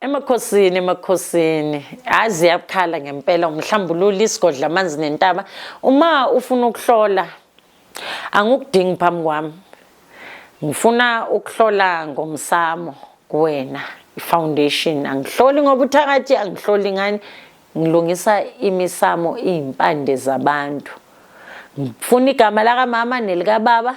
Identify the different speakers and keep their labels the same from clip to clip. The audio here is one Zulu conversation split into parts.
Speaker 1: Emakhosini emakhosini hayi ziyakhala ngempela umhlambululi isigodla amanzi nentaba uma ufuna ukuhlola angikudingi phambi kwami ngifuna ukuhlola ngomsamo kuwena ifoundation angihloli ngoba uthakathi angihloli ngani ngilungisa imisamo izimpande zabantu ngifuna igama lakamama nelikababa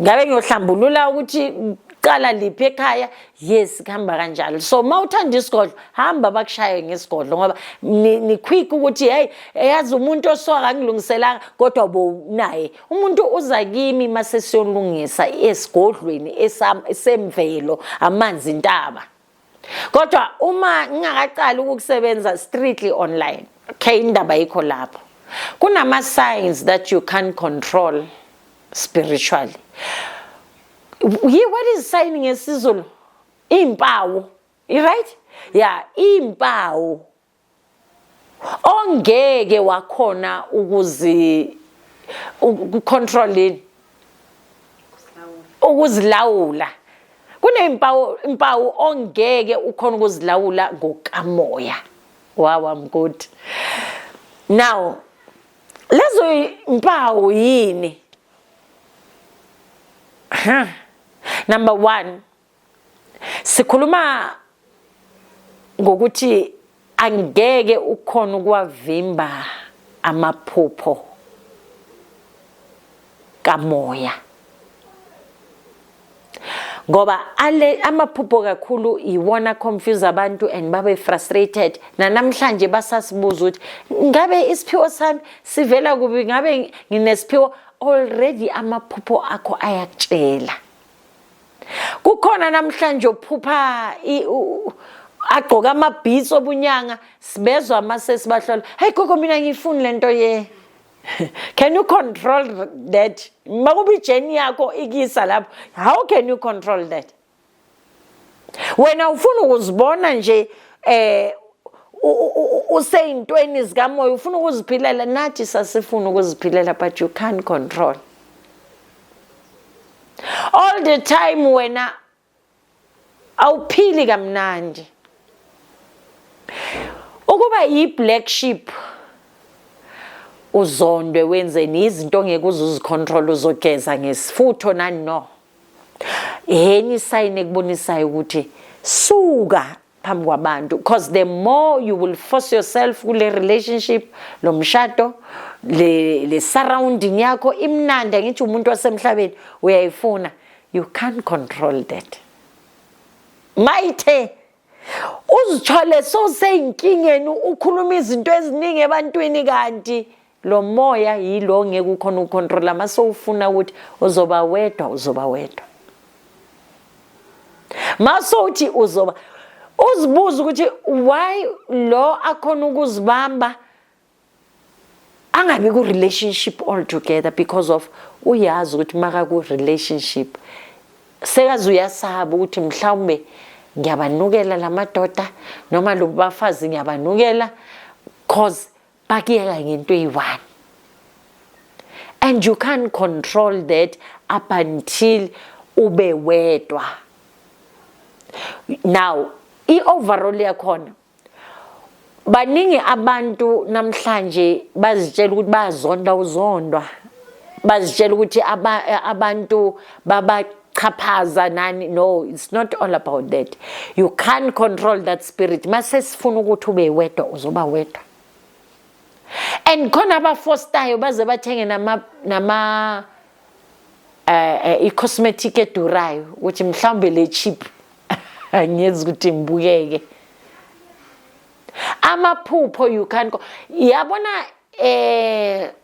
Speaker 1: ngabe ngiyohlambulula ukuthi qala liphi ekhaya yes kuhamba kanjalo so uma uthanda isigodlo hamba bakushaye ngesigodlo ngoba nikhwikha ukuthi hey eyazi umuntu osoka angilungiselanga kodwa bo naye umuntu uza kimi masesiyolungisa esigodlweni esemvelo amanzi intaba kodwa uma ngingakaqali ukukusebenza strictly online okay indaba yikho lapho kunama signs that you can't control spiritually yi what is sign ngesizulu impawu i right yeah impawu ongeke wakhona ukuzi ukucontrolini ukuzilawula kunezimpawu impawu ongeke ukhona ukuzilawula ngokamoya wawa mgodi now lezo impawu yini number 1 sikhuluma ngokuthi angeke ukhona ukwavimba amaphupho kamoya ngoba ale amaphupho kakhulu iwona confuse abantu and babe frustrated nanamhlanje basasibuza ukuthi ngabe isiphiwo sami sivela kubi ngabe nginesiphiwo already amaphupho akho ayakutshela kukhona namhlanje ophupha agqoka amabhitsi obunyanga sibezwa ama sesibahlola hey gogo mina ngiyifuni lento ye can you control that makuba ijeni yakho ikisa lapho how can you control that wena ufuna ukuzibona nje eh useyintweni zikamoya ufuna ukuziphilela nathi sasifuna ukuziphilela but you can't control all the time wena awuphili kamnandi ukuba yi black sheep uzondwe wenzeni izinto ongeke uzuzicontrol uzogeza ngesifutho nani no yeni isayini ekubonisayo ukuthi suka phambi kwabantu because the more you will force yourself kule relationship lo mshado le le surrounding yakho imnandi angithi umuntu wasemhlabeni uyayifuna you can't control that mayithe uzithole soseynkingeni ukhuluma izinto eziningi ebantwini kanti lo moya yilo ngeke ukhona ucontrol ama so ufuna ukuthi uzoba wedwa uzoba wedwa maso uthi uzoba uzibuza ukuthi why lo akhona ukuzibamba angabi ku relationship all together because of uyazi ukuthi maka ku relationship sekaze uyasaba ukuthi mhlawumbe ngiyabanukela lamadoda noma lobafazi ngiyabanukela cause bakuyeka ngento eyi-one and you can't control that up until ube wedwa now i-overall yakhona baningi abantu namhlanje bazitshela ukuthi bazonda uzondwa bazitshela ukuthi abantu baba chaphaza nani no it's not all about that you can't control that spirit mase sifuna ukuthi ube wedwa uzoba wedwa and khona abafostayo baze bathenge nama nama eh, eh i-cosmetic edurayo ukuthi mhlawumbe le cheap angiyezi ukuthi ngibukeke amaphupho you can go yabona eh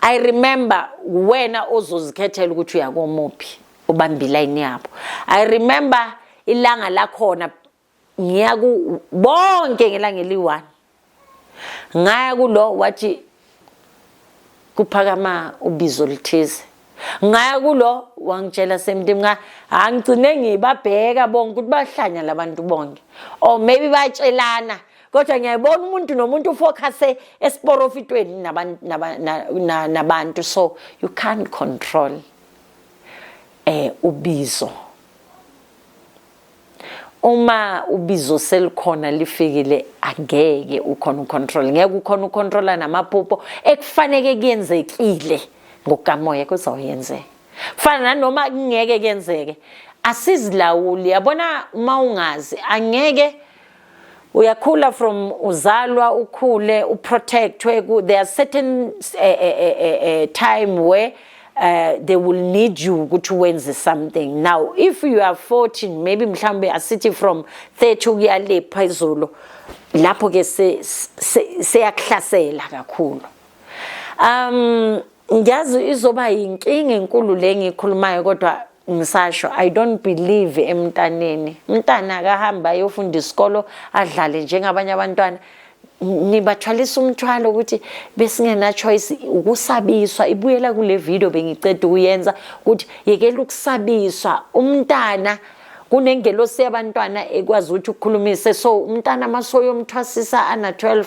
Speaker 1: I remember wena ozozikhethela ukuthi uyakomuphi ubamba ilayini yabo I remember ilanga lakhona ngiya ku bonke ngelanga eliyi-one ngaya kulo wathi kuphakama ubizo oluthize ngaya kulo wangitshela same thing nga angigcine ngibabheka bonke ukuthi bahlanya labantu bonke or maybe batshelana kodwa ngiyayibona umuntu nomuntu ufocuse esiporofitweni nabantu so you can't control eh ubizo uma ubizo selikhona lifikile angeke ukhona ucontrol ngeke ukhona ucontrola namaphupho ekufaneke kuyenzekile ngokukamoya kuzawuyenzeka kufana nanoma kungeke kuyenzeke asizilawuli yabona uma ungazi angeke uyakhula from uzalwa ukhule uprotectwe there are certain uh, uh, uh, time where uh, they will need you ukuthi wenze something now if you are 14 maybe mhlawumbe asithi from 30 ukuya le phezulu lapho ke seyakuhlasela kakhulu um ngiyazi izoba yinkinga enkulu le ngikhulumayo kodwa ngisasho i don't believe emntaneni mntana akahamba ayofunda isikolo adlale njengabanye abantwana nibathwalisa umthwalo ukuthi besingena choice ukusabiswa ibuyela kule video bengiceda ukuyenza ukuthi yekela ukusabiswa umntana kunengelosi yabantwana ekwazi ukuthi ukukhulumise so umntana masoyomthwasisa ana 12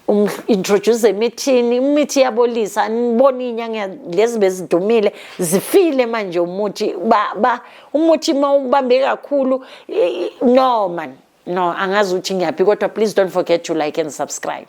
Speaker 1: um introduce emithini imithi yabolisa aniboni inyanga lezi bezidumile zifile manje umuthi ba, ba umuthi mawubambe kakhulu no man no angazi ukuthi ngiyaphi kodwa please don't forget to like and subscribe